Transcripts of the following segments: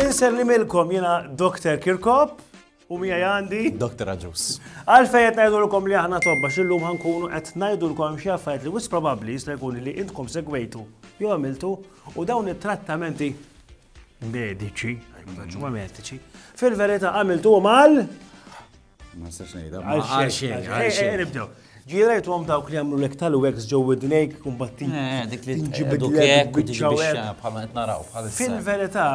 Inser li milkom jena Dr. Kirkop u mija għandi. Dr. Aġus. Għalfej qed ngħidulkom li aħna tobba xillum ħankunu qed ngħidulkom xi affarijiet li wis probabbli jista' jkun li intkom segwejtu jew għamiltu u dawn it-trattamenti Mediċi. Ġumma mediċi. Fil-verita għamiltu mal? Ma s-sax nejda. Għalxin, għalxin. Nibdew. Ġirajt għom dawk li għamlu l-ek tal-wex ġo id-nejk kumbattin. Eh, dik li ġibdu kek, Fil-verita,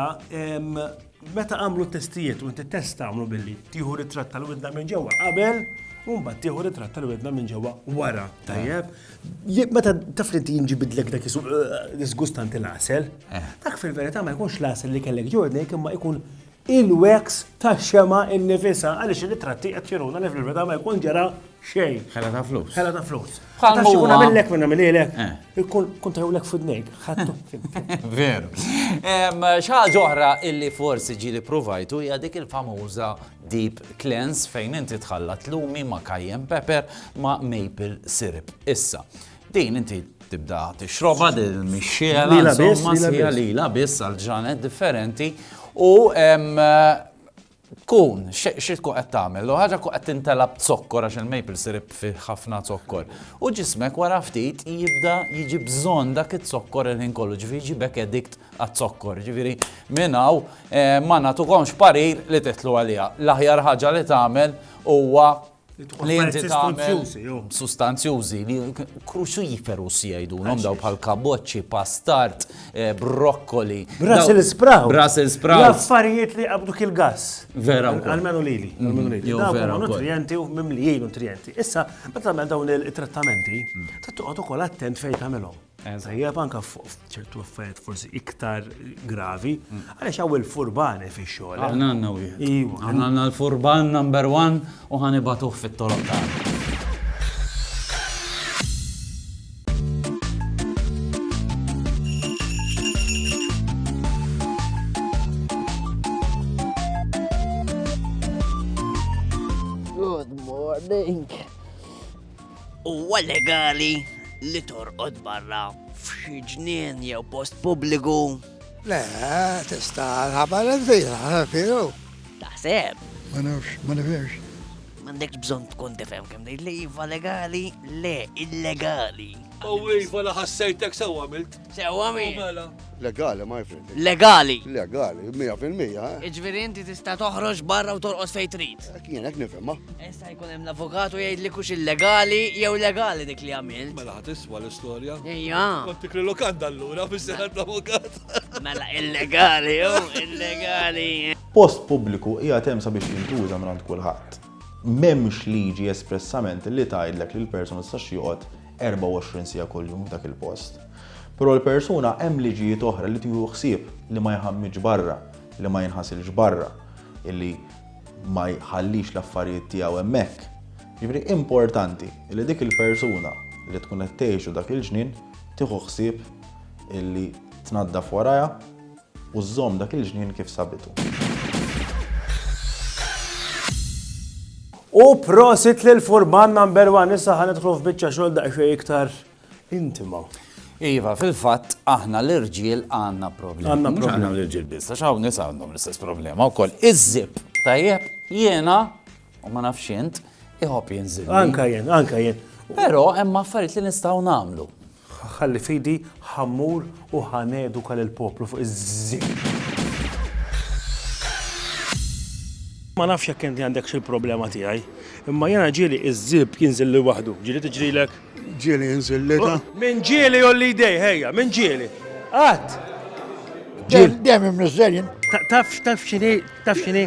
meta għamlu testijiet u inti testa għamlu billi tiħu ritrat tal-widna minn ġewwa qabel, Umbat tiħu ritrat tal-widna minn ġewwa wara. Tajjeb, Meta taf li inti jinġibidlek dak isu disgustanti l-għasel, dak fil-verità ma jkunx l-għasel li kellek ġordni imma jkun il-wax ta' xema innifisa għaliex il-ritratti qed juruna li fil-verità ma jkun ġara xejn. Ħela ta' flus. Ħela ta' flus. Bħal ma jkun għamillek minn għamililek. Ikun kun tajulek fudnejk. Veru. Xaġa oħra illi forsi ġieli provajtu hija dik il-famuża Deep cleanse fejn inti tħallat lumi ma' cayenne pepper ma' maple syrup. Issa, din inti tibda tixroba din mixxiela insomma sħiħa lila biss għal ġranet differenti u tkun, xie tkun qed tagħmel, u ħaġa tkun qed tintela b'zokkor għax il-maple syrup fi ħafna zokkor. U ġismek wara ftit jibda jiġi bżonn dak iż-zokkor il-ħin kollu ġifi jiġi bekk edikt għaz-zokkor. Jiġifieri minn hawn ma nagħtukomx parir li tidħlu għaliha. L-aħjar ħaġa li tagħmel huwa li inti tagħmel sustanzjużi li cruciferous jgħidulhom daw bħal kaboċċi, pastart, eh, brokkoli. Brussel sprout. Brussel sprout. L-affarijiet li qabdu kil gas. Vera. Almenu lili. Mm, Almenu lili. Jo vera. Nutrienti u mimlijin nutrienti. Issa, meta tagħmel dawn il-trattamenti, mm. tittoqgħod ukoll attent fejn tagħmelhom. Tajjeb anka ċertu affarijiet forsi iktar gravi, għaliex hawn il-furbani fix-xogħol. Aħna għandna wieħed. Iva. Aħna għandna l-furban number one u ħanibatuh fit-toroq tagħna. Huwa legali li torqod barra f'xi ġnien jew post pubbliku? Le, tista' ħabar l-għażila, firu. Taħseb? Ma nafx, ma nifhimx. M'għandekx bżonn tkun tifhem kemm ngħid li iva legali, le illegali. U iva la ħassejtek sew għamilt. Sewwa min? Mela. Legali, my friend. Legali? Legali, 100%. Eh. Iġviri inti tista' toħroġ barra u torqos fejn trid. Eh, kien hekk nifhimha. Issa jkun hemm l-avukatu jgħid li kux illegali jew legali dik li għamilt. Mela ħadd iswa l-istorja. Ejja. Kont tikri lokanda allura biex seħħet mela. l-avukat. Mela illegali, jew oh, illegali. Post pubbliku hija tem sabiex jintuża minn kulħadd. M'hemmx liġi espressament li tgħidlek li l-person tistax joqgħod 24 siegħa kuljum f'dak il-post. Però l-persuna hemm liġijiet oħra li tieħu ħsieb li ma jħammitx barra, li ma jinħasilx barra, illi ma jħallix l-affarijiet tiegħu hemmhekk. Jiġifieri importanti li dik il-persuna li tkun qed tgħixu dak il-ġnien tieħu ħsieb illi tnaddaf warajha U żżomm dak il-ġnien kif sabitu. U prosit lil Furman number one, issa ħan idħlu f'biċċa xogħol daqsxejn iktar intima. Iva, fil-fatt aħna l-irġiel għandna problema. Għandna problema l-irġiel biss, għax hawn nisa għandhom l-istess problema wkoll. Iż-żib, tajjeb, jiena u ma nafx int, iħobb jinżil. Anka jien, anka jien. Però hemm affarijiet li nistgħu nagħmlu. Ħa ħalli f'idi, ħa mmur u ħa neduka lill-poplu fuq iż-żieb. Ma nafx jekk inti għandekx il-problema tiegħi, imma jiena ġieli iż-żieb jinżilli waħdu. Ġieli tiġrilek? Ġieli jinżil l-età? Min ġieli jgħolli jdejh, ejja, min ġieli? Qatt! Ġieli. Dejjem imniżżel jien. Taf x'inhi? Taf x'inhi?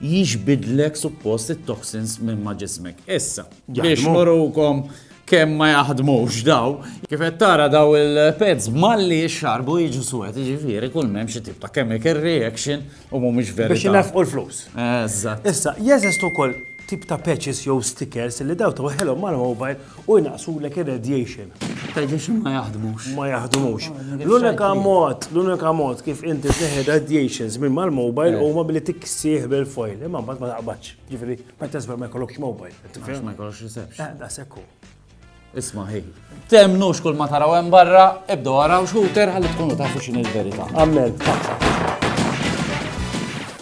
jixbidlek suppost it-toxins minn ma' ġismek. Issa, biex murukom kemm ma jaħdmux daw, kif qed tara daw il-peds malli xarbu jiġu suwed, jiġifieri kull m'hemm xi tip ta' chemical reaction u mhumiex veri. Biex nefqu l-flus. Eżatt. Issa, jeżistu wkoll tip ta' patches jew stickers li daw twaħħilhom mal-mobile u jnaqsulek ir-radiation. Radiation ma jaħdmux. Ma jaħdmux. L-unika mod, l-unika mod kif inti tneħħi radiations minn mal-mobile eh. huma billi tiksih bil-foil, imma mbagħad ma taqbadx. Ġifieri, ma tasber ma jkollokx mobile. Ma jkollokx reception. Eh, da sekku. Isma' ħi. Temnu xkull ma taraw hemm barra, ibdu għaraw xkuter ħalli tkunu tafu x'inhi l-verità. Amen.